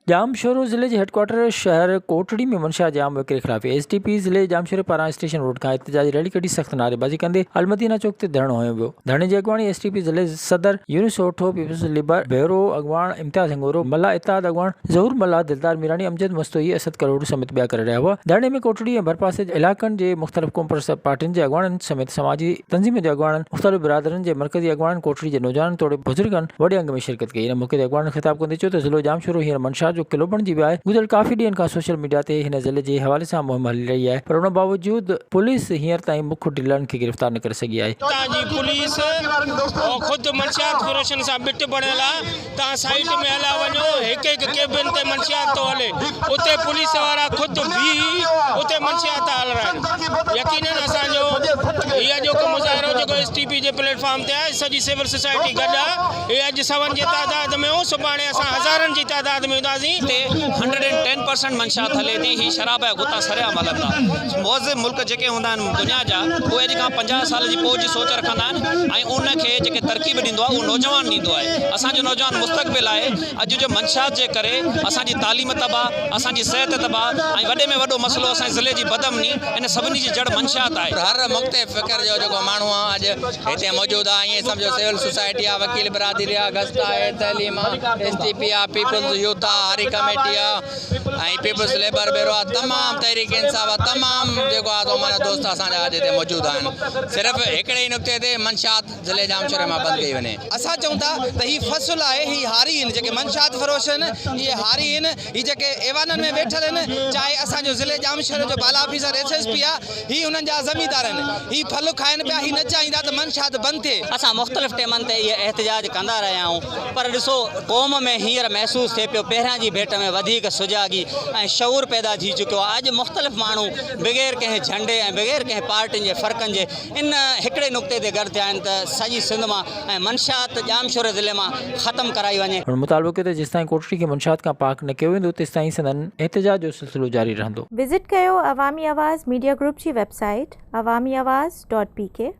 ڄام شورو ضلعي جي هيڊڪوارٽر شهر ڪوٽڙي ۾ منشا ڄام وڪري خلاف ايس ڊي پي ضلعي ڄام شوري پاران اسٽيشن روڊ کان احتجاجي ريلي ڪڍي سخت نعريبازي ڪندي المدينه چوڪ تي ڌرڻو هنيو ويو ڌرڻي جي اڳواڻي ايس ڊي پي ضلعي صدر Younis Sotho peoples labour bureau اڳواڻ امتياز هڱورو ملاح اتحاد اڳواڻ ظهور ملاح دلدار ميراڻي امجد مستوئي اسد ڪلهوڙو سميت ٻيا ڪري رهيا هئا ڌرڻي ۾ ڪوٽڙي ۽ ڀرپاسي جي علائقن جي مختلف قومپرست پارٽين جي اڳواڻن سميت سماجي تنظيمن جي اڳواڻن مختلف برادرين جي مرڪزي اڳواڻن ڪوٽڙي جي نوجوانن توڙي بزرگن وڏي انگ ۾ شرڪت ڪئي ان موقعي تي اڳواڻن خطاب ڪندي چيو ته ضلعو ڄامشورو هينئر منشار جو قلعو بڻجي ويو آهي گذريل ڪافي ڏينهن کان سوشل ميڊيا تي هن ضلعي جي حوالي سان مهم هلي رهي آهي پر ان باوجود پوليس هينئر تائين مک ڊيلرن کي گرفتار نه ڪري سگهي آهي هتان جي پوليس خود منشيات فروشن سان ٻٽ بڻيل آهي تان سائيٽ ۾ هليا وڃو، هڪ هڪ ڪيبن تي منشيات ٿو هلي، اتي پوليس وارا خود بيهي اتي منشيات ٿا هلرائن. يقينن اسان جو هي اڄوڪو مظاهرو جيڪو ايس ٽي پي جي پليٽ فارم تي آهي، سڄي سول سوسائٽي گڏ آ، هي اڄ سون جي تعداد ۾ هو، سڀاڻي اسان هزارن جي تعداد ۾ هونداسين. اتي هنڊريڊ اينڊ ٽين پرسنٽ منشيات هلي ٿي، هي شراب جا غوطا سرعام هلن ٿا، مهذب ملڪ جيڪي هوندا آهن، دنيا جا اهي اڄ کان پنجاهه سال جي پوء جي سوچ رکندا آهن ۽ ان کي جيڪي ترڪيب ڏيندو آهي اهو نوجوان ڏيندو آهي اسان جو نوجوان مستقبل آهي اڄ جو منشيات جي ڪري اسان جي تعليم تباهه اسان جي صحت تباهه ۽ وڏي ۾ وڏو مسئلو اسان جي ضلعي جي بدامني ان سڀني جي جڙ منشيات آهي. هر مختلف فڪر جو جيڪو ماڻهو آهي اڄ هتي موجود آهي ائين سمجهو سول سوسائٽي آهي وڪيل برادري آهي گسٽا آهي تعليم آهي ايس ٽي پي آهي پيپلز يوٿ آهي هاري ڪميٽي آهي ۽ پيپلز ليبر بيورو آف تمام تحريڪ انصاف آف تمام جيڪو آ سو معنيٰ دوست اسان جا اڄ هتي موجود آهن صرف هڪڙي ئي نقطي تي منشيات ضلعي ڄامشوري مان بند ڪئي وڃي. اسان چئون ٿا ته هي فصل آهي هي هاري هن جيڪي منشيات فروش هن اهي هاري هن هي جيڪي ايوانن ۾ ويٺل هن چاهي اسان جو ضلعي ڄامشوري جو بالا آفيسر ايس ايس پي آ هي انهن جا زميندار آهن. هي ڦل کائن پيا. هي نه چاهيندا ته منشيات بند ٿئي. اسان مختلف ٽيمن تي اهي احتجاج ڪندا رهيا آهيون پر ڏسو قوم ۾ هينئر محسوس ٿئي پيو پهريان جي ڀيٽ ۾ وڌيڪ سجاڳي ۽ شعور پيدا ٿي چڪيو آهي اڄ مختلف ماڻهو بغير ڪنهن جهنڊي ۽ بغير ڪنهن پارٽين جي فرقن جي ان هڪڙي نقطي تي گڏ ٿيا آهن ته سڄي سنڌ مان ۽ منشيات ڄامشوري ضلعي مان ختم ڪرائي وڃي. هن مطالبو ڪيو ته جيستائين ڪوٽڙي کي منشيات کان پاڪ نه ڪيو ويندو تيستائين سندن احتجاج جو سلسلو جاري رهندو. وزٽ ڪيو عوامي آواز ميڊيا گروپ جي website Awami Awaz dot P ڪي.